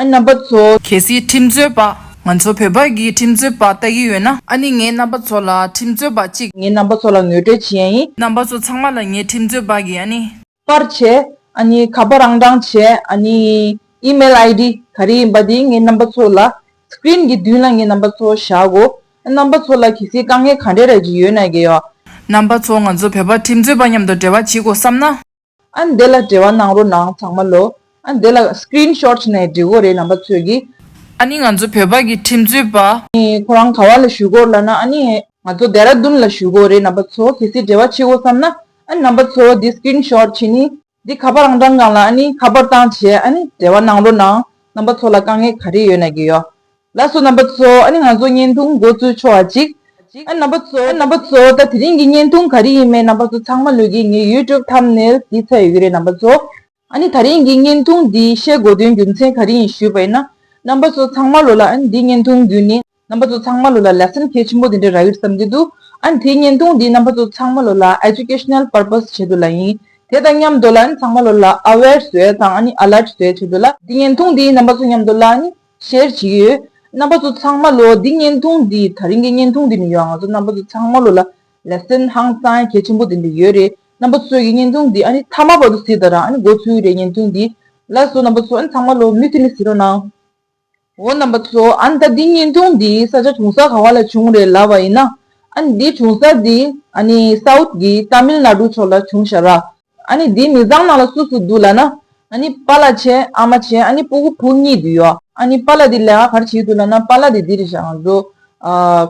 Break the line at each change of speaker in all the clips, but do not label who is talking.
ཨ་ནི་རྣམ་པ་ཚོ། གལ་སྲིད་ཁྲིམས་རྩོད་པ་ང་ཚོ་བོད་པ་གིས་ཁྲིམས་རྩོད་པ་ལྟ་གི་ཡོད་ན། ཨ་ནི་ངའི་རྣམ་པ་ཚོ་ལ་ཁྲིམས་རྩོད་པ་གཅིག། ངའི་རྣམ་པ་ཚོ་ལ་ངོས་སྤྲོད་བྱེད་ཡ་ཡིན། རྣམ་པ་ཚོ་ཚང་མ་ལ་ངས་ཁྲིམས་རྩོད་པ་གིས་ཨ་ནི། པར་བྱེད། ཨ་ནི་ག་པར་རང་དྲངས་བྱེད་ཨ་ནི། Email ID། ག་རེ་ཡིན་པ་དེ་ངའི་རྣམ་པ་ཚོ་ལ། Screen། གི་མདུན་ལ་ངའི་རྣམ་པ་ཚོ་བཞག་གོ། ཨ་རྣམ་པ་ཚོ་ལ་གལ་སྲིད་དཀའ་ངལ་ག་འདྲས་རག་གི་ཡོད་ན། རྣམ་པ་ཚོ་ང་ཚོ་བོད་པ་ཁྲིམས་རྩོད་པ་མཉམ་དུ་འབྲེལ་བ་བྱེད་དགོས་བསམ་ན། ཨ་འདི་ལ་བྲེལ་བ་གནང་རོགས་གནང་ཚང་མ་ལོ། ཨ་འདི་ལ Screen Shot བྱས་ནས་འབྲི་དགོས་རེད་རྣམ་པ་ཚོས་ཀྱི། ཨ་ནི་ང་ཚོ་བོད་པ་གི་ཁྲིམས་རྩོད་པ། ཁོ་རང་ག་བ་ལ་བཞུགས་དགོས་ལ་ན་ཨ་ནི་ང་ཚོ་རྡེ་ར་རྡུན་ལ་བཞུགས་དགོས་རེད་རྣམ་པ་ཚོ་གལ་སྲིད་བྲེལ་བ་ཆེ་བོ་བསམ་ན་ཨ་ནི་རྣམ་པ་ཚོ་འདི Screen Shot བྱེད་ནི་འདི་ཁ་པ་རང་བགྲང་གང་ལ་ཨ་ནི་ཁ་པར་བཏང་བྱས་ཨ་ནི་བྲེལ་བ་གནང་རོགས་གནང་རྣམ་པ་ཚོ་ལ་དཀའ་ངལ་ག་རེ་ཡོད་ན་གི་ཡོད་ལགས་སོ་རྣམ་པ་གཙོ་ཨ་ནི་ང་ཚོ་བརྙན་ཐུང་མགོ་བཙུགས་ཆོག་ཨ་ཅིག། ཨ་རྣམ་པ་གཙོ་རྣམ་པ་གཙོ་ད་དེ་རིང་གི་བརྙན་ཐུང་ག་རེ་ཡིན་མེད་རྣམ་པ་གཙོ་ཚང་མ་ལུས་ཀྱི་ངའི YouTube Thumbnail དེའི་ཚ་ཡོད་ཀྱི་རེད་རྣམ་པ་གཙོ། ཨ་ནི་ད་རིང་གི་བརྙན་ཐུང་འདི་བཤད་དགོས་དོན་རྒྱུ་མཚན་ག་རེ་ཡིན་ཞུས་པ་ཡིན་ན། རྣམ་པ་གཙོ་ཚང་མ་ལོ་ལ་ཨ་ནི་འདི་བརྙན་ཐུང་རྒྱུ་ནི་རྣམ་པ་གཙོ་ཚང་མ་ལོ་ལ་ལེ་སན་གལ་ཆེན་པོ་དེ་འདྲ་རག་ཡོད་བསམ་གྱི་འདུག་ཨ་ནི་དེ་བརྙན་ཐུང་འདི་རྣམ་པ་གཙོ་ཚང་མ་ལོ་ལ Educational Purpose བྱེད་དུ་ལ་ཡིན་དེ་དང་མཉམ་དུ་ལ་ཨ་ནི་ཚང་མ་ལོ་ལ Aware བཟོས་དང་ཨ་ནི Alert བཟོས་བྱེད་དུ་ལ་འདི་བརྙན་ཐུང་འདི་རྣམ་པ་གཙོ་མཉམ་དུ་ལ་ཨ་ནི། ཤེར་ཕྱིན་ཡོད། རྣམ་པ་ཚོ་ཚང་མ་ལོ་འདིའི་བརྙན་ཐུང་འདི་ད་རིང་གི་བརྙན་ཐུང་འདི་མི་ཡོང་ང་ཚོ་རྣམ་པ་ཚོ་ཚང་མ་ལོ་ལ་ལས་སེམས་ཧང་སང་གལ་ཆེན་པོ་ལྡན་པའི་ཡོད་རེད་རྣམ་པ་ཚོས་ཀྱི་བརྙན་ཐུང་འདི་ཨ་ནི་མཐའ་མ་བར་དུ་གཟིགས་ད་རང་ཨ་ནི་འགོ་ཚུལ་རེད་བརྙན་ཐུང་འདི་ལ་སོ་རྣམ་པ་ཚོ་ཨ་ནི་ཚང་མ་ལོ་མུས་ཐི་ནི་གཟིགས་རོགས་གནང། འོ་རྣམ་པ་ཚོ་ཨ་ནི་ད་འདི་བརྙན་ཐུང་འདི་ས་ཆ་གྲོང་གསར་ག་བ་ལ་བྱུང་རེད་ལབ་བ་ཡིན་ན་ཨ་ནི་འདི་གྲོང་གསར་འདི་ཨ་ནི South གི Tamil Nadu ཕྱོགས་ལ་བྱུང་ཤག་རགས། ཨཱ་ནི་དེའི་མི་བཟང་ནང་ལ་སུ་སུ་འདུག་ལ་ན། ཨཱ་ནི་པཱ་ལ་ཆེ་ཨ་མ་ཆེ་ཨཱ་ནི་སྤུ་གུ་བུ་གཉིས་འདུག་ཡོ། ཨཱ་ནི་པཱ་ལ་དེ་ལས་ང་གར་བྱེད་འདུག་ལ་ན་པཱ་ལ་དེ་དེ་རེད་ཤག་ང་ཚོ།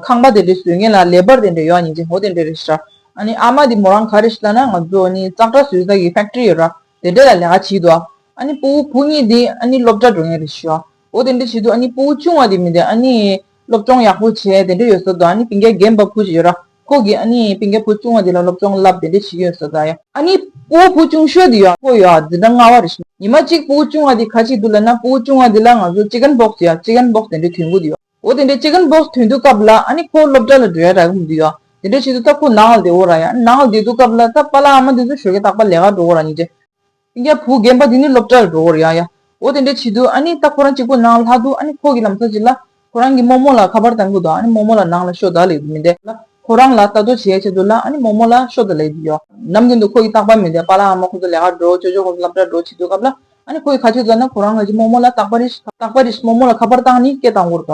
ཁང་པ་དེ་འདྲེ་བཟོས་མཁན་ལ་ལས་པར་དེ་འདྲེ་ཡོག་ཉིན་ཅིག་ཧོ་དེ་འདྲེ་རེད་ཤག་ཨཱ་ནི་ཨ་མ་དེ་མོ་རང་ག་རེད་ཤི་ལ་ན་ང་ཚོ་ཨཱ་ནི་ཙག་སྒྲ་བཟོས་ས་གི་ཕེག་ཏྲི་ཡོད་ར་དེ་འདྲེ་ལ་ལས་ང་བྱེད་འདུག་ཨཱ་ནི་སྤུ་གུ་བུ་གཉིས་དེ་ཨཱ་ནི་སློབ་གྲྭ་འགྲོ་མཁན་རེད་ཤག། འོ་དེ་འདྲ་བྱེད་དུས་ཨ་ནི་སྤོ་བོ་ཆུང་བ་དེ་མི་འདུག་ཨ་ནི་སློབ་སྤྱོང་ཡག་པོ་བྱས་དེ་འདྲ་ཡོད་བཟོ་དང་ཨ་ནི་བི་འགའི་རྒན་པ་བུ་ཞིག་ཡོད་ར་ཁོ་གིས་ཨ་ནི་བི་འགའི་བུ་ཆུང་བ་དེ་ལ་སློབ་སྤྱོང་བསླབ་དེ་འདྲ་བྱེད་ཀྱི་ཡོད་བཟོ་དང། ཨ་ནི་སྤོ་བོ་བུ་ཆུང་ཤོས་དེ་ཡོད་ཁོ་ཡོད་ཨ་འདི་འདྲ་སྔ་བ་རེད། ཉི་མ་གཅིག་སྤོ་བོ་ཆུང་བ་དེ་ཁ་ཅིག་འདུག་ལབ་ན་སྤོ་བོ་ཆུང་བ་དེ་ལ་ང་ཚོ Chicken Box ཡོད Chicken Box དེ་འདྲ་དུས་འགོ་དེ་ཡོད། འོ་དེ་འདྲ Chicken Box དུས་འདུག་སྐབས་ལ་ཨ་ནི་ཁོ་སློབ་གྲྭ་ལ་འགྲོ་ཡ་ར་གི་མི་འདུག་ཡོད་དེ་འདྲ་བྱེད་དུས་ད་ཁོ་ནགས་ལ་བསྡད་འོ་ར་ཡ་ནགས་ལ་བསྡད་འདུག་སྐབས་ལ་ད་པ་ལགས་ཨ་མ་འདི་ཚོ་ཞོལ་གྱི་རྟག་པ་ལས་ཀར་འགྲོ་འོ་ར་ཉིས་བྱེད། ཨི་ཡ་བུ་རྒན་པ་འདི་ནི་སློབ་གྲྭར་འགྲོ་འོར་ཡ་ཡ་འོ་དེ་འདྲས་བྱེད་དུས་ཨ་ནི་ད་ཁོ་རང་གཅིག་པུ་ནང་ལྷག་འདུག་ཨ་ནི་ཁོ་གི་ལམ་ཚ་གཅིག་ལ་ཁོ་རང་གི་རྨོ་རྨོ་ལ་ཁ་པར་བཏང་གི་འདུག་ཨ་ནི་རྨོ་རྨོ་ལ་ནང་ལ་ཤོ་ད་ལེགས་རྒྱུ་མི་འདེད་ལ་ཁོ་རང་ལ་ལྟ་རྟོག་བྱས་བྱས་འདུག་ལ་ཨ་ནི་རྨོ་རྨོ་ལ་ཤོ་ད་ལེགས་རྒྱུ་ཡོ། ནམ་རྒྱུན་དུ་ཁོ་གི་རྟག་པར་མི་འདེད་པ་ལ་ཨ་མ་ཁོ་ཚོ་ལས་ཀར་འགྲོ་ཅོ་ཅོ་ཁོ་ཚོ་སླབ་གྲྭར་འགྲོ་བྱེད་དུས་སྐབས་ལ་ཨ་ནི་ཁོ་གི་ཁ་ཆུ་ཙར་ན་ཁོ་རང་ངོས་ཀྱི་རྨོ་རྨོ་ལ་རྟག་པར་རིས་རྟག་པར་རིས་རྨོ་རྨོ་ལ་ཁ་པར་བཏང་ནི་སྐད་བཏང་འོར་ག།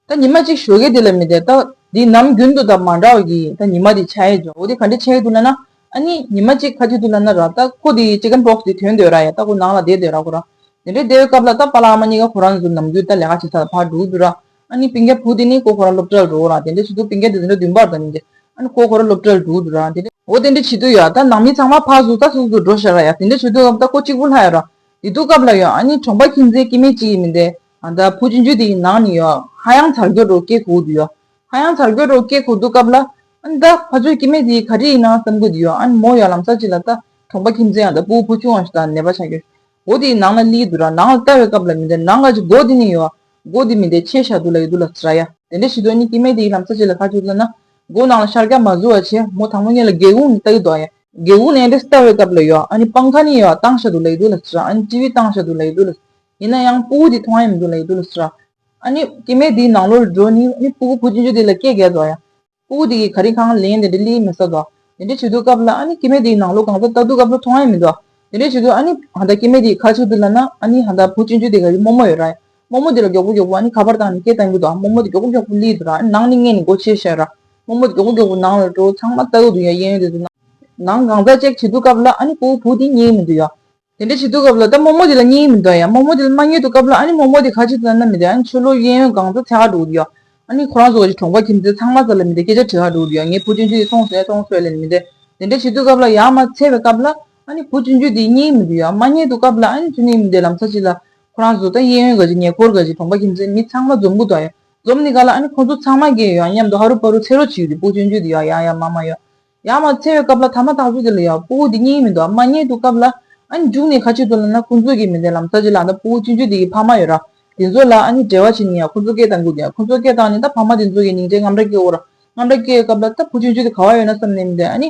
ད་ཉི་མ་གཅིག་ཞོ་གས་དེ་ལ་མི་དད། ད་འདི་ནམ་རྒྱུན་དུ་དང་མ་འདྲ་བ་གི། ད་ཉི་མ་དེ་ཆ་ཡེ་འཇོག་དེ་ག་འདྲེ་ཆ་ཡེ་དུ་ལ་ན། ཨ་ནི་ཉི་མ་གཅིག་ཁ་ཅིག་དུ་ལ་ན་ར། ད་ཁོ་དེ Chicken Pox དེ་དོན་འདོད་ར་ཡ། ད་ཁོ་ནང་ལ་བསྡད་འདོད་ར་ཁོ་ར། དེ་འདྲའི་བསྡད་འོས་སྐབས་ལ་ད་པ་ལ་ཨ་མ་གཉིས་ཀ་ཁོ་རང་ཚོ་ནམ་རྒྱུན་ད་ལས་ཀ་བྱེད་ས་ལ་ཕར་འགྲོ་འདོད་ར། ཨ་ནི་པིང་ཀ་བུ་དེ་ནི་ཁོ་ཁོ་ར་སློབ་གྲྭ་ལ་འགྲོ་ར། དེ་འདྲའི་བྱེད་དུ་པིང་ཀ་དེ་དེ་འདྲ་བདུན་པར་ད་ནི་འདྲེ། ཨ་ནི་ཁོ་ཁོ་ར་སློབ་གྲྭ་ལ་འགྲོ་འདོད་ར། འོ་དེ་འདྲའི་བྱེད་དུ་ཡོད་ར། ད་ནང་མི་ཚང་མ་ཕག་གཟུགས་ད་གཟུགས་སུ་འགྲོ་ཤར་ར་ཡ། དེ་འདྲའི་བྱེད་དུ་སྐབས་ད་ཁོ་གཅིག་པུ་ལྷག་ཡོད་ར། དེ་དུས་སྐབས་ལ་ཡོང་ཨ་ནི་གྲོང་པ་ཁྱིམ་མཚེས་སྐྱེས་མེད་གཅིག་ཡིན་མི་དད། ཨ་ད་བྷུ་ཅི་འཇུ་དེ་ཡི་ནང་ནས་ཡོ་ཧ་ཡང་ཚར་གྱོད་དྲོ་སྐྱེ་ཁུག་དུ་ཡོ་ཧ་ཡང་ཚར་གྱོད་དྲོ་སྐྱེ་ཁུག་འདུག་སྐབས་ལ། ཨ་ད་བྷ་ཆོས་སྐྱིད་མེ་དེ་ཡི་ག་དྲི་ཡིན་ནང་བསམ་གྱོད་དུ་ཡོ་ཨ་མོ་ཡོ་ལམ་ས་ཅི་ལ་ལྟ་གྲོང་པ་ཁྱིམ་མཚེས་ཨ་ད་བྷུ་བྷོ་ཆུང་བ་ཞིག་དང་ནད་པ་ཆ་གྱོད་འོ་དེ་ཡི་ནང་ལ་ལི་དུ་ར་ནང་ལ་ལྟ་བའི་སྐབས་ལ་མི་འདྲ་ནང་ག་ཅི་སྒོ་དེ་ནས་ཡོ་སྒོ་དེ་མི་འདྲའི་ཆེ་ཤ་དུ་ལ་ཡོ་དུ་ལ་ཟ་ཡ་དེ་འདྲ་ཞིག་དོ་ནི་སྐྱིད་མེ་དེ་ཡི་ལམ་ས་ཅི་ལ་ཁ་ཅིག་ལ་ན་སྒོ་ནང་ལ་ཤར་སྐྱ་མ་བཟོ་བ་ཆེ་མོ་དང་མོ་གཉིས་ལ་སྒེའུ་ཁུང་ནས་ལྟ་གྱི་དོ་ཡ་སྒེའུ་ཁུང་ནས་འདྲེ་ལྟ་བའི་སྐབས་ལ་ཡོ་ཨ་ནི་སྤང་ཁ་ནས་ཡོ་ཨ་སྟང་ཤ་དུ་ལ་ཡོ་དུ་ལ་ཟ་ཨ་ནི་སྤྱི་བི་སྟང་ཤ་དུ་ལ་ཡོ་དུ་ལ་ཡིན་ན་ཡང་སྤུ་གུ་དེ་མཐོང་ཡ་མི་འདུག་ལ་ཡི་འདུག་ལ་སུ་ར། ཨ་ནི་སྐྱེ་མེད་དེའི་ནང་ལོ་རུ་འགྲོ་ནི་ཨ་ནི་སྤུ་གུ་བུ་གཅིག་འཇུ་དེ་ལ་སྐྱེ་རྒས་ཟོ་ཡ། སྤུ་གུ་དེ་གིས་ག་རི་གང་ལེན་དེ་འདྲའི་གླེའི་མི་ཟ་ཟོ། དེ་འདྲའི་བྱེད་དུ་སྐབས་ལ་ཨ་ནི་སྐྱེ་མེད་དེའི་ནང་ལོ་གང་ཟག་ལྟ་དུ་སྐབས་ལ་མཐོང་ཡ་མི་འདུག་དེ་འདྲའི་བྱེད་དུ་ཨ་ནི་ཧ་ད་སྐྱེ་མེད་དེའི་ཁ་ཆུ་དེ་ལ་ན་ཨ་ནི་ཧ་ད་བུ་གཅིག་འཇུ་དེ་ག་རི་རྨོ་མོ་ཡོད་ར། རྨོ་མོ་དེ་ལ་མགྱོགས་པོ་མགྱོགས་པོ་ཨ་ནི་ཁ་པར་བཏང་ནི་སྐད་བཏང་གི་འདུག་རྨོ་མོ་དེ་མགྱོགས་པོ་མགྱོགས་པོ་གླེའི་འདུག་ར་ཨ་ནི་ནང་ནི་མངལ་ནི་སྒོ་ཕྱེས་ཤ་ར། རྨོ་མོ་དེ་མགྱོགས་པོ་མགྱོགས་པོ་ནང་ལ་འགྲོ་ཚང་མ་ལྟ་གི་འདུག་ཡ་གཡས་གཡོན་དེ་ཚོ་ནང་གང་ཟག་ཅིག་བྱེད་དུ་སྐབས་ལ་ཨ་ནི་སྤུ་གུ་བུ་དེ་རྙེད་ཡི་མི་འདུག་ཡ། དེ་འདྲ་བྱེད་དུས་སྐབས་ལ་ད་རྨོ་རྨོ་དེ་ལ་སྙིང་ཡིག་མི་འདོན་ཡ། རྨོ་རྨོ་དེ་ལ་མ་ཉོས་འདུག་སྐབས་ལ་ཨ་ནི་རྨོ་རྨོ་དེ་ཁ་ཆེ་དེ་ལ་མནའ་མི་འདོན་ཨ་ནི་ཆོས་ལུགས་གཡས་གཡོན་སྒང་དུ་ཚེ་ཧ་འགྲོ་གི་ཡོད། ཨ་ནི་ཁོ་རང་ཚོ་བ་ཅི་གྲོང་པ་ཁྱིམ་མཚེས་ཚང་མ་ཚ་ལ་མི་འདོན་སྐད་ཆ་དྲི་ཧ་འགྲོ་གི་ཡོད་ངས་བུ་སྤྱོད་འཇུག་དེ་སོང་ཟེར་ཡ་སོང་ཟེར་ཡ་ལས་ནི་མི་འདོན། དེ་འདྲ་བྱེད་དུས་སྐབས་ལ་ཡ་མ་ཚེ་བའི་སྐབས་ལ་ཨ་ནི་བུ་སྤྱོད་འཇུག་དེ་སྙིང་ཡིག་མི་འདོན་ཡ། མ་རྙེད་འདུག་སྐབས་ལ་ཨ་ནི་ཚུལ་ནི་མི་འདོན་ལམ་ཚ་གཅིག་ལ། ཁོ་རང་ཚོ་ད་གཡས་གཡོན་ག་ཅིག་ཉེ་འཁོར་ག་ཅིག་གྲོང་པ་ཁྱིམ་མཚེས་མི་ཚང་མ་འཛོམས་དགོས་དོན་ཡོད། འཛོམས་ནི་ག་ལ་ཨ་ནི་ཁོ་ཚོ་ཚང་མ་རྒས་ཡོད་ཨང་སྙམ་དུ་ཧ་རུ་ཕ་རུ་ཚེ་རོགས་ཅིག་ཡོད་དེ་བུ་སྤྱོད་འཇུག་དེ་ཡ་ཡ་ཡ་མ་མ་ཡོད། ཡང་མ་འཚལ་བའི་སྐབས་ལ་ཐ་མ་དག་བོད་ཀྱི་ལ་ཡང་སྤུ་བོ་འདི་རྙེད་ཡིན་མི་འདུག་ཨ་མ་རྙེད་འདུག་སྐབས་ལ། ཨ་ནི་རྒྱུགས་ནས་ཁ་ཕྱིར་དོར་ལབ་ན་ཁོང་ཚོས་ཀྱིས་མི་འདེད་ལམ་ས་ཅི་ལ་ད་སྤུ་བོ་སྤྱི་འཇུས་འདི་གི་ཕ་མ་ཡོད་ར། དེ་ཚོ་ལ་ཨ་ནི་བྲེལ་བ་བྱེད་ནི་ཡང་ཁོང་ཚོ་སྐད་དང་གུ་དེ་ཁོང་ཚོ་སྐད་དང་ནི་ད་ཕ་མ་དེ་ཚོ་ཡི་ནིང་འདྲེ་རྔམ་འདྲ་སྐྱེ་འོ་ར། རྔམ་འདྲ་སྐྱེ་སྐབས་ལ་ད་སྤུ་སྤྱི་འཇུས་འདི་ག་བ་ཡོད་ན་བསམ་ནས་མི་འདེད་ཨ་ནི།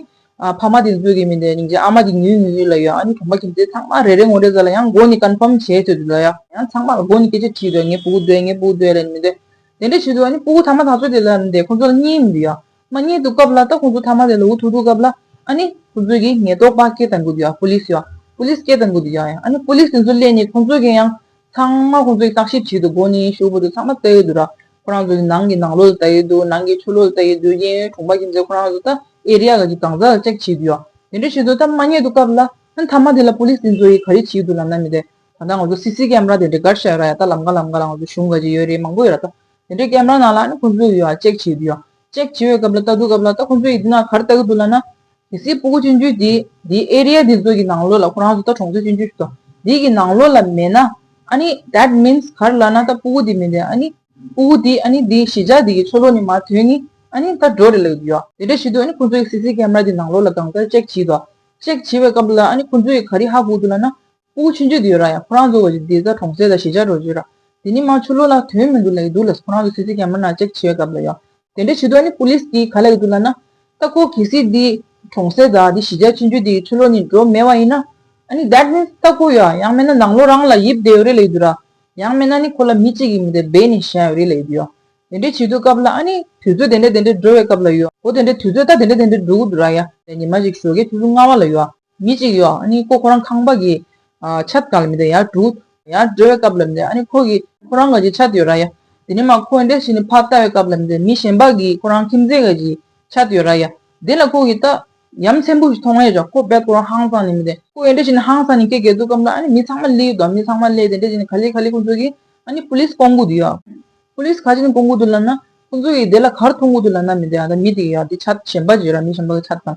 ཕ་མ་དེ་ཚོས་ཀྱིས་མི་འདེད་ནིང་འཇིག་ཨ་མ་དེ་ཉུལ་ཉུལ་ཉུལ་ལ་ཡོད་ཨ་ནི་གྲོང་པ་ཁྱིམ་མཚེས་ཚང་མ་རེ་རེ་ངོ་རེ་ཟ་ལ་ཡང་མགོ་ནི་ཀན་ཕམ་བྱས་ཚོད་དུ་ལ་ཡང། ཡང་ཚང་མ་ལ་མགོ་ནི་སྐད་ཆ་དྲིས་དོད་ངས་སྤུ་བོ་འདོད་ངས་སྤུ་བོ་འདོད་ལན་མི་འདེད། དེ་འདྲ་བྱས་དུས་ཨ་ནི་སྤུ་བོ་ཐ་མ་དག་ཚོས་དེ་ལ་མི་འདེད་ཁོང་ཚོ་ལ་རྙེད་ཡིན་མི་འདུག་ཡང། མ་ཉེས་འདུག་སྐབས་ལ་ད་ཁོང་ཚོ་ཐ་མ་ལས་ལོ་བུ་ཐུག་འདུག་སྐབས་ལ་ཨ་ནི་ཁོང་ཚོས་ཀྱིས་ཉེས་རྟོག་པ་སྐད་བཏང་དགོས་ཀྱིས Police ཡོད Police སྐད་བཏང་དགོས་དུ་ཡོད་ཡང་ཨ་ནི Police དེ་ཚོ་སླེབས་ནས་ཁོང་ཚོས་ཀྱིས་ཡང་ཚང་མ་ཁོང་ཚོས་ཀྱིས་བརྟག་ཞིབ་བྱེད་དུ་དགོས་ནས་ཤོག་བུ་དེ་ཚང་མ་བལྟ་ཡོད་དུ་ར་ཁོ་རང་ཚོ་ཀྱིས་ནང་གི་ནང་ལོག་ལ་བལྟ་ཡོད་དུ་ནང་གི་ཆུ་ལོག་ལ་བལྟ་ཡོད་དུ་གཡས་གཡོན་གྲོང་པ་ཁྱིམ་མཚེས་ཁོ་རང་ཚོ་ད Area ག་གི་གང་ཟག་ལ་ལྕེག་བྱེད་དུ་ཡོད་དེ་འདྲ་བྱེད་དུ་ད་མ་ཉེས་འདུག་སྐབས་ལ་ཨ་ནི་ཐ་མ་དེ་ལ Police དེ་ཚོ་ཡིས་ག་རེ་བྱེད་དུ་ལབ་ན་མི་དེ་ད་ལྟ་ང་ཚོ CC Camera དེ་འདྲ་གར་བཞག་ཡོད་ར་ཡ་ད་ལམ་ག་ལམ་ག་ལ་ང་ཚོ་གཞུང་ག་ཅིག་ཡོད་རེད་མང་པོ་ཡོད་ར་ད་དེ་འདྲའི་སྐད་སྨྲ་ནང་ལ་ནི་ཁོ་ཚོས་ཡོ་ཨ་ཅེཀ་བྱེད་དུ་ཡོ། ཅེཀ་བྱེད་པའི་སྐབས་ལ་ལྟ་དུས་སྐབས་ལ་ལྟ་ཁོ་ཚོས་ཡི་འདི་ན་གར་ལྟ་གི་འདུག་ལ་ན། དེ་སྲིད་སྤུ་གུ་སྤྱི་འགྱུར་དེ་དེའི area དེ་ཚོ་གི་ནང་ལོགས་ལ་ཁོ་རང་ཚོ་ལྟ་གྲོང་ཚོའི་སྤྱི་འགྱུར་ཞིག་ཏུ་དེ་གི་ནང་ལོགས་ལ་མེད་ན། ཨ་ནི that means གར་ལ་ན་ལྟ་སྤུ་གུ་དེ་མི་འདེ་ཨ་ནི། སྤུ་གུ་དེ་ཨ་ནི་དེའི་གཞི་ཆགས་དེ་གི་ཆོ་ལོ་ནི་མ་དོན་ནི་ཨ་ནི་ལྟ་འགྲོ་རེ་ལ་གི་འདུག་ཡོ། དེ་འདྲ་བྱེད་དུས་ཨ་ནི་ཁོ་ཚོས་སྲིད་སྲིད་སྐད་སྨྲ་དེ་ནང་ལོགས་ལ་གང་ལྟར་ཅེཀ་བྱེད་དོ། ཅེཀ་བྱེད་པའི་སྐབས་ལ་ཨ་ནི་ཁོ་ཚོས་ག་རི་ཧ་གུག་འདུག་ལ་ན། སྤུ་གུ་ཆུ་འཇུ་དེ་ཡོད་རང་ཡང་ཁོ་རང་ཚོ་བ་ཞིག་དེ་ཚ་གྲོང་གསེབ་ལ་གཞིས་ཆགས་འགྲོ་རྒྱུ་རང་དེ་ནི་དམངས་ཆོས་ལོ་ལ་དོན་མི་འདུག་ལ་ཡི་འདུག་ལ་ཁོ་རང་ཚོ་སི་སི་ག་མི་ནག་ཅེག་བྱེད་སྐབས་ལ་ཡང་དེ་འདྲ་བྱེད་དོགས་ནི Police གིས་ག་ལ་ཡི་འདུག་ལ་ན། ལྟ་ཁོ་གལ་སྲིད་དེ་གྲོང་གསེབ་དང་དེ་གཞིས་ཆགས་ཆུ་འཇུ་དེའི་ཆུ་ལོ་ནི་འགྲོ་མེད་བ་ཡིན་ན། ཨ་ནི that means ལྟ་ཁོ་ཡང་ཡང་མེད་ན་ནང་ལོ་རང་ལ་ཡིབ་བསྡད་ཡོད་རེད་ལ་ཡི་འདུག་ར། ཡང་མེད་ན་ནི་ཁོ་ལ་མི་གཅིག་གིས་མི་དེ་སྦས་ནས་བཞག་ཡོད་རེད་ལ་ཡི་འདུག་ཡ། དེ་འདྲ་བྱེད་དུས་སྐབས་ལ་ཨ་ནི་དུས་ཚོད་དེ་འདྲ་དེ་འདྲ་འགྲོ་བའི་སྐབས་ལ་ཡོད། འོ་དེ་འདྲ་དུས་ཚོད་ལྟ་དེ་འདྲ་དེ་འདྲ་འགྲོ་གི་འདུག་ར་ཡ། ཉི་མ་ཞིག་ཞོ་ཁའི་ཆུ་ཟུར་སྔ་བ་ལ་ཡོད། མི་གཅིག་ཡོད་ཨ་ནི་ཁོ་ཁོ་རང་ཁང་པ་གི། ཆབ་གང་ལ་མི་དེ་ཡར་དྲུག། ཡར་སྒྲོལ་བའི་སྐབས་ལ་མི་དེ་ཨ་ནི་ཁོ་གི། ཁོ་རང་ང་གི་ཆ་དེ་ཡོད་ར་ཡ། དེ་ནས་མ་ཁོའི་འདྲེ་ཞིག་ནི་ཕར་ལྟ་བའི་སྐབས་ལ་མི་དེ་མི་གཞན་པ་གི་ཁོ་རང་ཁྱིམ་མཚེས་ང་གི། ཆ་དེ་ཡོད་ར་ཡ། དེ་ལ་ཁོ་གི་ལྟ། ཡ་མཚན་བུ་ཞིག་མཐོང་ཡ་ཅག་ཁོ་བས་ཁོ་རང་ཧང་སང་ནི་མི་དེ། ཁོའི་འདྲེ་ཞིག་ནི་ཧང་སང་ནི་ཀེ་ཀེ་འདུག་སྐབས་ལ་ཨ་ནི་མི་ཚང་མ་བསླེས་ཡོད་དོ་མི་ཚང་མ་བསླེས་དེ་འདྲེ་ཞིག་ནི་ག་ལེ་ག་ལེ་ཁོ་ཚོ་གི། ཨ་ནི་ཕུ་ལིས་སྤོང་གུ་དུ་ཡ། ཕུ་ལིས་ཁ་ཅིག་ནི་སྤོང་གུ་དུ་ལ་ན། ཁོ་ཚོ་གི་དེ་ལ་གར་མཐོང་གུ་དུ་ལ་ན་མི་དེ་ཨ་ད་མི་དེ་གི་ཡ་དེ་ཆ་གཞན་པ་གི་ཡོད་ར་མི་གཞན་པ་གི་ཆ་དང།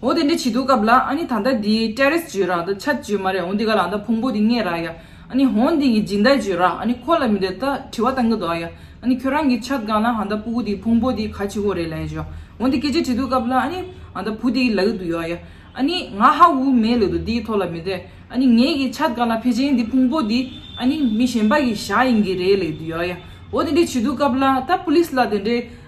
འོ་དེ་འདྲ་བྱེད་འདུག་སྐབས་ལ་ཨ་ནི་ད་ལྟ་འདི་ཏྲེ་རེས་བརྗོད་རག་འདི་ཆ་བརྗོད་མ་རེད་འོ་འདི་ག་ལ་འདི་ཕུང་པོ་འདི་ངས་རག་ཡ་ཨ་ནི་འོ་འདི་ངས་སྦྱིན་བདག་བརྗོད་རག་ཨ་ནི་ཁོ་ལ་མི་འདི་ད་དྲི་བ་བཏང་གི་འདུག་ཡ་ཨ་ནི་ཁྱོད་རང་གིས་ཆ་དགའ་ན་ཨ་ད་སྤུ་གུ་འདི་ཕུང་པོ་འདི་ག་ཆི་ཧོ་རེད་ལ་ཡ་བརྗོད་འོ་འདི་སྐད་ཆ་དྲི་འདུག་སྐབས་ལ་ཨ་ནི་ཨ་ད་བུ་འདི་ཡི་ལ་གི་འདུག་ཡོ་ཡ་ཨ་ནི་ང་ཧ་ཝུ་མེད་ལོས་འདུག་འདིའི་ཐོག་ལ་མི་འདི་ཨ་ནི་ངས་གིས་ཆ་དགའ་ན་ཕེ་ཆེན་འདི་ཕུང་པོ་འདི་ཨ་ནི་མི་གཞན་པ་གི་ཞག་ཡིན་གི་རེད་ལས་འདུག་ཡོ་ཡ་འོ་དེ་འདྲ་བྱེད་འདུག་སྐབས་ལ་ད་པུ་ལིས་ལ་དེ་འདྲའི་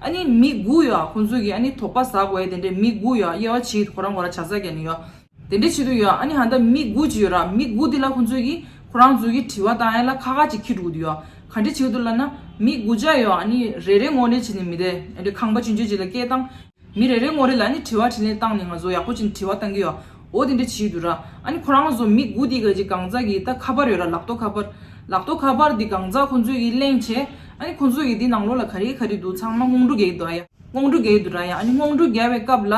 ཨ་ནི་མི་དགུ་ཡོད་ཨ་ཁོང་ཚོས་ཀྱི་ཨ་ནི་དོགས་པ་ཟ་དགོས་ཨ་དེ་འདྲའི་མི་དགུ་ཡོད་ཨ་དབྱེ་བ་ཕྱིའི་དོ་རང་གོ་ར་བྱ་ས་ཀྱ་ནི་ཡོད་དེ་འདྲའི་བྱེད་དུ་ཡོད་ཨ་ནི་ཧ་འདའ་མི་དགུ་ཅི་ཡོད་ར་མི་དགུ་དེ་ལ་ཁོང་ཚོས་ཀྱི་ཁོ་རང་ཚོས་ཀྱི་དྲི་བ་དང་ཨེ་ལ་ཁ་ཁ་ཅིག་ཁྱི་དྲུག་དུ་ཡོད་ག་འདྲའི་བྱེད་དུ་ལ་ན་མི་དགུ་བརྒྱ་ཡོད་ཨ་ནི་རེ་རེ་ངོ་རེ་བྱེད་ནི་མི་དེ་འདྲའི་ཁང་པ་ཅི་འཇོད་ཅིག་ལ་སྐད་བཏང་མི་རེ་རེ་ངོ་རེ་ལ་ཨ་ནི་དྲི་བ་དྲིས་ལན་བཏང་ནི་ང་ཚོ་ཡག་པོ་ཅིག་ནི་དྲི་བ་བཏང་གི་ཡོད། འོ་དེ་འདྲ་བྱེད་དུ་ར། ཨ་ནི་ཁོ་རང་ལ་བཟོ་མི་དགུ་དེ་ག་ཅིག་གང་ཟག་གིས་ད་ཁ་པར་ཡོད་ར་ལག་ཏོ་ཁ་པར། ལག་ཏོ་ཁ་པར་དེ་གང་ཟག་ཁོ་ཚོས་གིས་གླེང་བྱས། ཨ་ནི་ཁོ་ཚོས་གིས་དེ་ནང་ལོགས་ལ་ག་རེ་ག་རེ་འདུག་ཚང་མ་སྔོང་འབྲུ་རྒལ་དུ་ཡ། སྔོང་འབྲུ་རྒལ་དུ་ར་ཡ་ཨ་ནི་སྔོང་འབྲུ་རྒལ་བའི་སྐབས་ལ།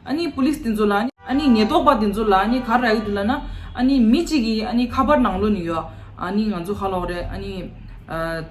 ཨ་ནི་པུ་ལིས་དེ་ཚོ་ལ། ཨ་ནི་ཉེས་རྟོག་པ་དེ་ཚོ་ལ་ཨ་ནི་ག་ར་ཡོད་དུ་ལ་ན། ཨ་ནི་མི་གཅིག་གིས་ཨ་ནི་ཁ་པར་ནང་ལོགས་ནས་ཡོད་ཨ་ནི་ང་ཚོ་ཧ་ལོག་རེད་ཨ་ནི།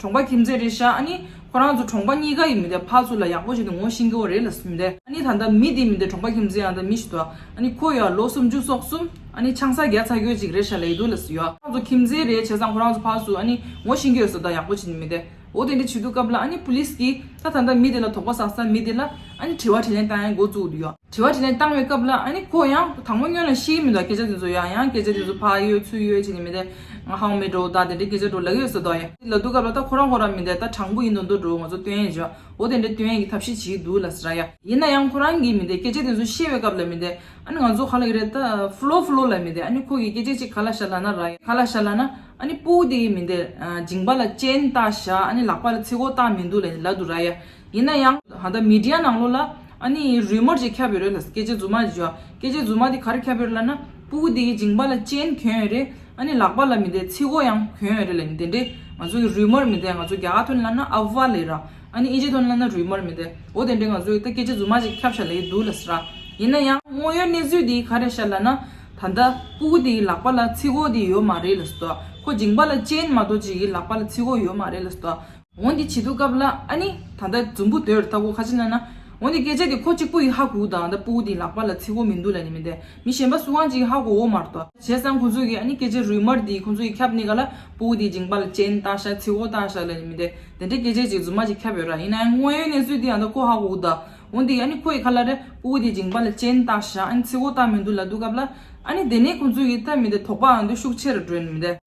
གྲོང་པ་ཁྱིམ་མཚེས་རེད་ཤག་ཨ་ནི། ཁོ་རང་ཚོ་གྲོང་པ་གཉིས་ཀ་ཡིན་མི་འདའ་ཕག་ཚོ་ལ་ཡག་པོ་བྱས་ཏེ་ངོ་ཤེས་མཁན་བོ་རེད་ལ་མི་འདའ་ཨ་ནི་ད་ལྟ་མི་དེ་མི་འདའ་གྲོང་པ་ཁྱིམ་མཚེས་ཡང་ད་མི་ཞིག་འདུག་ཨ་ནི་ཁོ་ཡོའ་ལོ་སུམ་ཅུ་སོག་གསུམ་ཨ་ནི་ཆང་ས་བརྒྱ་ཚ་ཁྱོད་ཅིག་རེད་ཤག་ལེགས་འདུག་ལ་སུ་ཡོའ་ཁོ་རང་ཚོ་ཁྱིམ་མཚེས་རེད་བྱས་ཙང་ཁོ་རང་ཚོ་ཕག་ཚོ་ཨ་ནི་ངོ་ཤེས་མཁན་ཡོད་སོ་ད་ཡག་པོ་བྱས་ནས་མི་འདའ་འོ་དེ་འདྲ་བྱེད་འདུག་སྐབས་ལ་ཨ་ནི police གིས་ད་ད་ད་མི་དེ་ལ་དོགས་པ་ཟག་ས་མི་དེ་ལ་ཨ་ནི་དྲི་བ་དྲིས་ལན་བཏང་ཡང་འགོ་བཙུགས་འདུག་ཡོ། དྲི་བ་དྲིས་ལན་བཏང་བའི་སྐབས་ལ་ཨཱ་ནི་ཁོ་ཡང་དང་པོ་སྨྱོན་ལ་ཤེས་ཀྱི་མི་འདུག་སྐད་ཆ་དེ་ཚོ་ཡང་ཡང་སྐད་ཆ་དེ་ཚོ་ཕ་ཡོད་ཚུལ་ཡོད་བྱས་ནས་མི་བསྡད། ང་ཧང་མེད་འགྲོ་ད་དེ་འདྲའི་སྐད་ཆ་འགྲོ་ལ་ཡོད་ཟེར་དོགས་ཡ། ལ་འདུག་སྐབས་ལ་ད་ཁོ་རང་ཁོ་རང་མི་བསྡད་ད་དྲང་པོ་ཡིན་དུ་འདུག་འགྲོ་ང་ཚོ་སྟོན་ཡས་བྱས་པ་འོ་དེ་འདྲའི་སྟོན་ཡས་ཀྱི་ཐབས་ཤེས་བྱེད་ཀྱི་འདུག་ལ་ཟེར་ཡ། ཡིན་ན་ཡང་ཁོ་རང་གིས་མི་བསྡད་སྐད་ཆ་དེ་ཚོ་བཤད་པའི་སྐབས་ལ་མི་བསྡད། ཨཱ་ནི་ང་ཚོ་ག་ལ་ཡི་རེད་ད་ཧྥུ་ལོ་ཧྥུ་ལོ་ལ་མི་བསྡད་ཨཱ་ནི་ཁོ་གིས་སྐད་ཆ་ཅིག་ག་ལ་ཤར་ལ་ན་ར་ཡ་ག་ལ་ཤར་ལ་ན་ཨཱ་ནི་སྤུ་དེ་གིས་མི་བསྡད། མཇིང་པ་ལ་སྤྱན་བཏགས་བཞག་ཨཱ་ནི་ལག་པ་ལ་ཚིག་འོ་བཏགས་མི་འདུག་ལ་འདི་ལ་འདུག་ར་ཡ། ཡིན་ན་ཡང། ད་ལྟ་མི་དྲའི་ནང་ལོགས་ལ་ཨ་ནི་རུས་མར་ཅིག་ཁྱབ་ཡོད་རེད་ལ། སྐད་ཆའི་རྫུན་མ་ཞིག་བརྗོད། སྐད་ཆའི་རྫུན་མ་དེ་ག་རེ་ཁྱབ་ཡོད་རེད་ལ་ན། སྤུ་གུ་དེ་ཡི་མཇིང་པ་ལ་ཅན་གྱོན་ཡོད་རེད། ཨ་ནི་ལག་པ་ལ་མི་དེའི་ཚིག་མགོ་ཡང་གྱོན་ཡོད་རེད་ལ་ནི་དེ་འདྲའི། ང་ཚོ་གི་རུས་མར་མི་དེ་ང་ཚོ་རྒྱ་གར་ཐོན་ལ་ན་ཨ་བྷ་ལི་ར། ཨ་ནི་ཨི་ཇི་ཐོན་ལ་ན་རུས་མར་མི་དེ། འོ་དེ་འདྲའི་ང་ཚོ་གི་ད་སྐད་ཆའི་རྫུན་མ་ཅིག་ཁྱབ་ཤར་ལ་ཡི་འདུག་ལ་སི་ར། ཡིན་ན་ཡང་དངོས་ཡོད་གནས་ཚུལ་དེ་ག་རེ་ཤར་ལ་ན། ད་ལྟ་སྤུ་གུ་དེ་ཡི་ལག་པ་ལ་ཚིག་མགོ་དེ་ཡོད་མ་རེད་ལ་སི་དོ། ཁོ་མཇིང་པ་ལ་ཅན་མ་གཏོགས་ཅིག་གི་ལག་པ་ལ་ཚིག་མགོ་ཡོད་མ་རེད་ལ་སི་དོ། འོན་ཏེ་བྱི་དོ་སྐབས་བླ་ཨ་ནི་ད་ལྟ་རྫུན་འབུ་དོད་ར་ལྟ་གོ་ཁ་ཅི་ན་ན། འོན་ཏེ་སྐད་ཆ་དེ་ཁོ་གཅིག་པུ་ཡི་ཧ་གུ་དང་ད་པུའུ་དེའི་ལག་པ་ལ་ཚིག་གོ་མི་འདུག་ལ་ནི་མི་འདེ་མི་གཞན་པ་སུའང་གཅིག་ཡི་ཧ་གོ་འོ་མ་རྟོ། བྱས་ཙང་ཁོ་ཚོ་གི་ཨ་ནི་སྐད་ཆ་རུལ་མར་དེ་ཁོ་ཚོ་ཡི་ཁྱབ་ནི་ག་ལ་པུའུ་དེའི་འཇིང་པ་ལ་ཅན་ལྟ་ཤ་ཚིག་གོ་ལྟ་ཤ་ལ་ནི་མི་འདེ་དེ་འདྲའི་སྐད་ཆ་གཅིག་རྫུན་མ་གཅིག་ཁྱབ་ཡོད་ར་ཡིན་ན་ཡང་དངོས་ཡོད་གནས་ཚུལ་དེ་ཡང་ད་ཁོ་ཧ་གུ་དང་འོན་ཏེ་ཨ་ནི་ཁོ་ཡི་ཁ་ལ་རེ་པུའུ་དེའི་འཇིང་པ་ལ་ཅན་ལྟ་ཤ་ཨ་ནི་ཚིག་གོ་ལྟ་མི་འདུག་ལ་འདུག་སྐབས་བླ་ཨ་ནི་དེ་ནི་ཁོ་ཚོ་ཡི་ལྟ་མི་འདེ་དོགས་པའང་འདུག་ཤུགས་ཆེ་ར་སྒྲོན་མི་འདེ།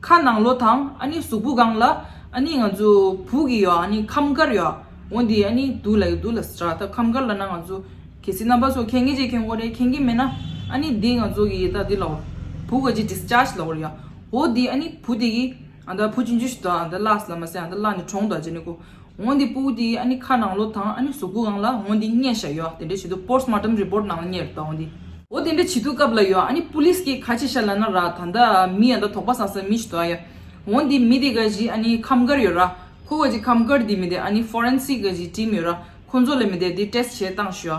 ཁ་ནང་ལོ་དང་ཨ་ནི་གཟུགས་པོ་གང་ལ་ཨ་ནི་ང་ཚོ་བུག་གི་ཡོག་ཨ་ནི་ཁམས་དཀར་ཡོག་འོན་དེ་ཨ་ནི་དུག་ལ་ཡོག་དུག་ལ་སྲ་ད་ཁམས་དཀར་ལ་ན་ང་ཚོ་གལ་སྲིད་རྣམ་པ་ཚོ་ཁེན་ངེས་ཅེས་ཁེན་དགོ་རེད་ཁེན་གི་མེད་ན་ཨ་ནི་དེ་ང་ཚོ་གི་ཡེ་ད་དེ་ལ་བུག་ཨ་ཅི discharge ལ་འོ་རེད་ཡོག་འོ་དེ་ཨ་ནི་བུ་དེ་གི་ཨ་ད་བུ་ཅི་འཇུ་ཞིག་ད་ཨ་ད་བླགས་སི་ལ་མ་སེ་ཨ་ད་བླགས་ནི་གྲོང་དུ་ཨ་ཅེ་ནི་གོ། ངོ་འདི་སྤུ་དེ་ཨ་ནི་ཁ་ནང་ལོག་དང་ཨ་ནི་གཟུགས་པོ་གང་ལ་ངོ་འདི་སྙན་ཞྭ་ཡོད་ཨ་དེ་འདྲ་བྱེད་དུ་པོརས་མ་ཏམ་རི་པོར་ནང་ལ་གཉེར་ད་འོ་འདི། འོ་དེ་འདྲ་བྱེད་དུ་སྐབས་ལ་ཡོད་ཨ་ནི་པུ་ལིས་ཀྱིས་ཁ་ཆེ་ཤ་ལ་ན་ར་ད་འདྲ་མི་ཡ་འདྲ་དོག་པ་ཟ་ཟ་མི་ཞིག་དོ་ཨ་ཡ། འོ་འདི་མི་དེ་ག་གཞི་ཨ་ནི་ཁམས་དཀར་ཡོད་ར་ཁོ་ག་གཞི་ཁམས་དཀར་འདི་མི་དེ་ཨ་ནི་ཧྥོ་རན་སིག་ག་གཞི་བྲིས་མི་ཡོད་ར་ཁོ་ཚོ་ལ་མི་དེ་འདི་ཏེས་བྱེད་སྟངས་ཞུ་ཨ་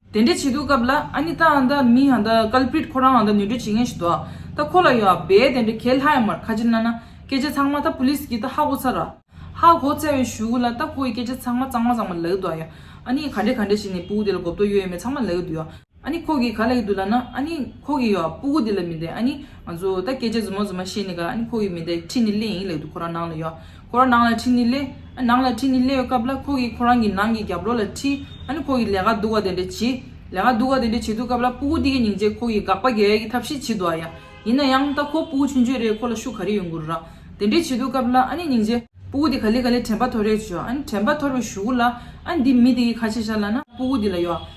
དེ་འདྲ་བྱེད་འདུག་སྐབས་ལ་ཨ་ནི་ད་འང་འདྲ་མི་འང་འདྲ Culprit ཁོ་རང་འང་འདྲ་ནུས་འདྲོད་བྱེད་མཁན་ཞིག་འདུག་ད་ཁོ་ལ་ཡོད་བས་དེ་འདྲ་གལ་ལྷག་ཡོད་མར་ཁ་ཆེར་གནང་ན་སྐད་ཆ་ཚང་མ་ད Police གིས་ད་ཧ་གོ་ཚར། ཧ་གོ་ཚར་བའི་ཞུ་གུ་ལ་ད་ཁོ་ཡི་སྐད་ཆ་ཚང་མ་གཙང་མ་གཙང་མ་ལ་གི་འདུག་ཨ་ཡ། ཨ་ནི་ག་འདྲ་ག་འདྲ་བྱས་ནས་སྤུ་གུ་དེ་ལ་གོ་བརྡོ་ཡོད་ཡོད་མེད་ཚང་མ་ལ་གི་འདུག་ཨ་ནི་ཁོ་གིས་ག་ལ་གི་འདུག་ལ་ན་ཨ་ནི་ཁོ་གིས་ཡོད་སྤུ་གུ་དེ་ལ་མི་འདེད་ཨ་ནི་ང་ཚོ་ད་སྐད་ཆ་རྫུན་མ་རྫུན་མ་བཤད་ནས་ག་ལ་ཨ་ནི་ཁོ་གིས་མི་འདེད་ཁྲིད་ནས་སླེ་ཡིན་ལེ་འདུག་ཁོ་རང་ནང་ལ་ཡོད། ཁོ་རང་ནང་ལ་ཁྲིད་ནི་སླེ། ནང་ལ་ཁྲིད་ནི་སླེ་ཡོད་སྐབས་ལ་ཁོ་གིས་ཁོ་རང་གི་ནང་གི་རྒྱབ་ལོགས་ལ་ཁྲིད། ཁོ་གིས་ལས་ཀ་སྡུག་བ་དེ་འདྲ་བྱེད། ལས་ཀ་སྡུག་བ་དེ་འདྲ་བྱེད་འདུག་སྐབས་ལ་སྤུ་གུ་འདི་གས་ཉིན་རྗེས་ཁོ་གིས་དགག་པ་རྒྱག་ཡས་ཀྱི་ཐབས་ཤིག་བྱེད་འདུག་ཨ་ཡ། ཡིན་ན་ཡང་ད་ཁོ་སྤུ་གུ་ཆུན་ཆུན་རེད་ཁོ་ལ་ཤུགས་ག་རེ་ཡོད་འགུར་རག། དེ་འདྲས་བྱེད་འདུག་སྐབས་ལ་ཨ་ནི་ཉིན་རྗེས། སྤུ་གུ་འདི་ག་ལེ་ག་ལེ་དྲན་པ་ཐོར་རེ་བྱོས། དྲན་པ་ཐོར་བའི་ཞུ་གུ་ལ། འདི་མི་དེ་གིས་ཁ་ཆེ་ཤར་ལ་ན་སྤུ་གུ་འདི་ལ་ཡོ།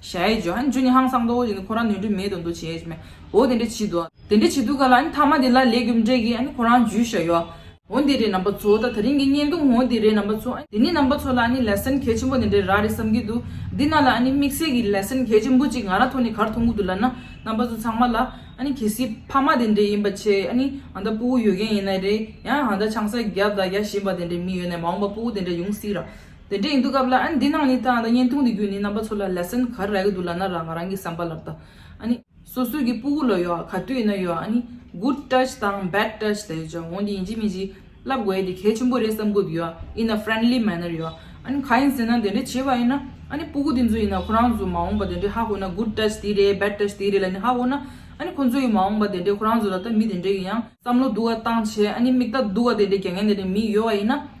ཞེས་བརྗོད། ཨ་ནི་ཇོ་ནི་ཧང་སང་དོ་འོ་ཅེས་ནི་ཁོ་རང་ནུས་འདྲི་མེད་དུ་འདུག་བྱས་ཨེ་མེད། འོ་དེ་འདྲ་བྱེད་དོ། དེ་འདྲ་བྱེད་དུས་ག་ལ་ཨ་ནི་མཐའ་མ་དེ་ལ་ལས་རྒྱུ་མི་འབྲས་ཀི་ཨ་ནི་ཁོ་རང་འཇུས་ཤ་ཡོ། འོ་དེ་རེད་རྣམ་པ་ཚོ་ད་ད་རིང་གི་བརྙན་ཐུང་འོ་དེ་རེད་རྣམ་པ་ཚོ། དེ་ནི་རྣམ་པ་ཚོ་ལ་ཨ་ནི Lesson གལ་ཆེན་པོ་དེ་འདྲ་ར་རེད་བསམ་གི་འདུག་འདི་ན་ལ་ཨ་ནི་དམིགས་བསལ་གི Lesson གལ་ཆེན་པོ་གཅིག་ང་རང་ཐོག་ནས་གར་མཐོང་གི་འདུག་ལ་ན་རྣམ་པ་ཚོ་ཚང་མ་ལ་ཨ་ནི་གལ་སྲིད་ཕ་མ་དེ་འདྲ་ཡིན་པ་ཆེ་ཨ་ནི་ཨ་ད་སྤུ་བོ་ཡོད་མཁན་ཡིན་ན་རེད་ཡང་ཨ་ད་ཆང་ས་རྒྱག་དང་རྒྱག་བཞིན་པ་དེ་འདྲའི་མི་ཡོད་ན་མ་འོངས་པ་སྤུ་བོ་དེ་འདྲ་ཡོང་སྲིད་ར། དེ་འདྲའི་ཡིན་འདུག་སྐབས་ལ་ཨ་ནི་འདི་ནང་ནས་ད་ང་ད་བརྙན་ཐུང་འདི་བརྒྱུད་ནས་རྣམ་པ་ཚོ་ལ lesson ག་རེ་རག་གི་འདུག་ལབ་ན་རག་ང་རང་གི་བསམ་པ་ལབ་ད་ཨ་ནི། སོ་སོའི་གི་སྤུ་གུ་ལ་ཡོད་ག་དུས་ཡིན་ན་ཡོད་ཨ་ནི good touch དང bad touch དེ་ཡོད་འོན་ཏེ་ཡིན་གཅིག་མིན་གཅིག་བསླབ་དགོས་ཡས་དེ་གལ་ཆེན་པོ་རེད་བསམ་གི་འདུག་ཡོད་ཨི་ན friendly manner ཡོད་ཨ་ནི་ག་ཡིན་ཟེར་ན་དེ་འདྲ་བྱས་པ་ཡིན་ན་ཨ་ནི་སྤུ་གུ་དེ་ཚོ་ཡིན་ན་ཁོ་རང་ཚོ་མ་འོངས་པ་དེ་འདྲའི་ཧ་གོ་ན good touch དེ་རེད bad touch དེ་རེད་ལ་ནི་ཧ་གོ་ན་ཨ་ནི་ཁོ་ཚོ་ཡི་མ་འོངས་པ་དེ་འདྲའི་ཁོ་རང་ཚོ་ལ་ད་མི་དེ་འདྲའི་གི་ཡང་བསམ་བློ་འདུག་ག་བཏང་བྱས་ཨ་ནི་མིག་དག་འདུག་ག་དེ་འདྲའི་རྒྱ་ངན་དེ་འདྲའི་མི་ཡོད་བ་ཡིན་ན།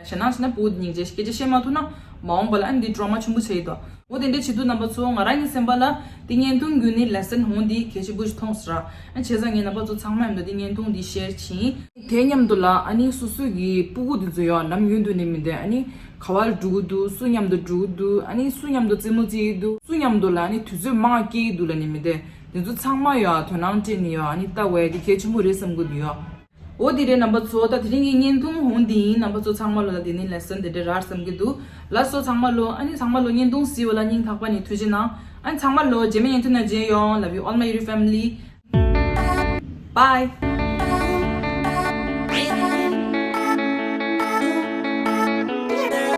ཞེ་ནག་བྱས་ན་བུ་སྙིང་རྗེ་སྐད་ཆ་བཤད་མ་ཐུབ་ན་མ་འོངས་པ་ལ་ཨ་འདི་ཀྲོ་མ་ཆེན་པོ་བྱེད་ཡི་དོ། འོ་དེ་འདྲའི་བྱེད་དུས་རྣམ་པ་ཚོ་ང་རང་གི་སེམས་པ་ལ་དེ་བརྙན་ཐུང་བརྒྱུད་ནས་ལེ་སན་ཧོང་འདི་གལ་ཆེན་པོ་ཞིག་མཐོང་ཟེར། ཨ་བྱས་ཙང་ངའི་རྣམ་པ་ཚོ་ཚང་མ་ཡོང་དུས་དེ་བརྙན་ཐུང་འདི་ཤེར་ཕྱིན། དེ་སྙམ་དུ་ལ་ཨ་ནི་སོ་སོས་ཀྱི་སྤུ་གུ་དེ་ཚོ་ཡང་ལམ་ཡུན་དུ་ནི་མི་འདེད་ཨ་ནི་ག་བ་ལ་འགྲོ་གི་འདུག་སུ་མཉམ་དུ་འགྲོ་གི་འདུག་ཨ་ནི་སུ་མཉམ་དུ་རྩེད་མོ་རྩེ་ཡི་འདུག་སུ་མཉམ་དུ་ལ་ཨ་ནི་དུས་ཚོད་མང་སྐྱེལ་གྱི་འདུག་ལ་ནི་མི་འདེད་དེ་ཚོ་ཚང་མ་ཡང་དོན་སྣང་སྤྲད་ནི་ཡང་ཨ་ནི་ལྟ་བས་དེ་གལ་ཆེན་པོ་རེད་བསམ་གི་འདུག་ཡ། འོ་དེ་རེད་རྣམ་པ་ཚོ་ད་དེ་རིང་གི་བརྙན་ཐུང་ཧོན་དེ་ཡིན་རྣམ་པ་ཚོ་ཚང་མ་ལོ་ད་དེ་ནི Lesson དེ་འདྲ་རར་བསམ་གི་འདུག་ལ་སོ་ཚང་མ་ལོ་ཨ་ནི་ཚང་མ་ལོ་བརྙན་ཐུང་ཟིལ་བ་ལ་སྙིང་ཐག་པ་ནས་ཐུགས་རྗེ་གནང་ཨ་ནི་ཚང་མ་ལོ་རྗེས་མ་བརྙན་ཐུང་ནང་མཇལ་ཡོང Love you all my YouTube family Bye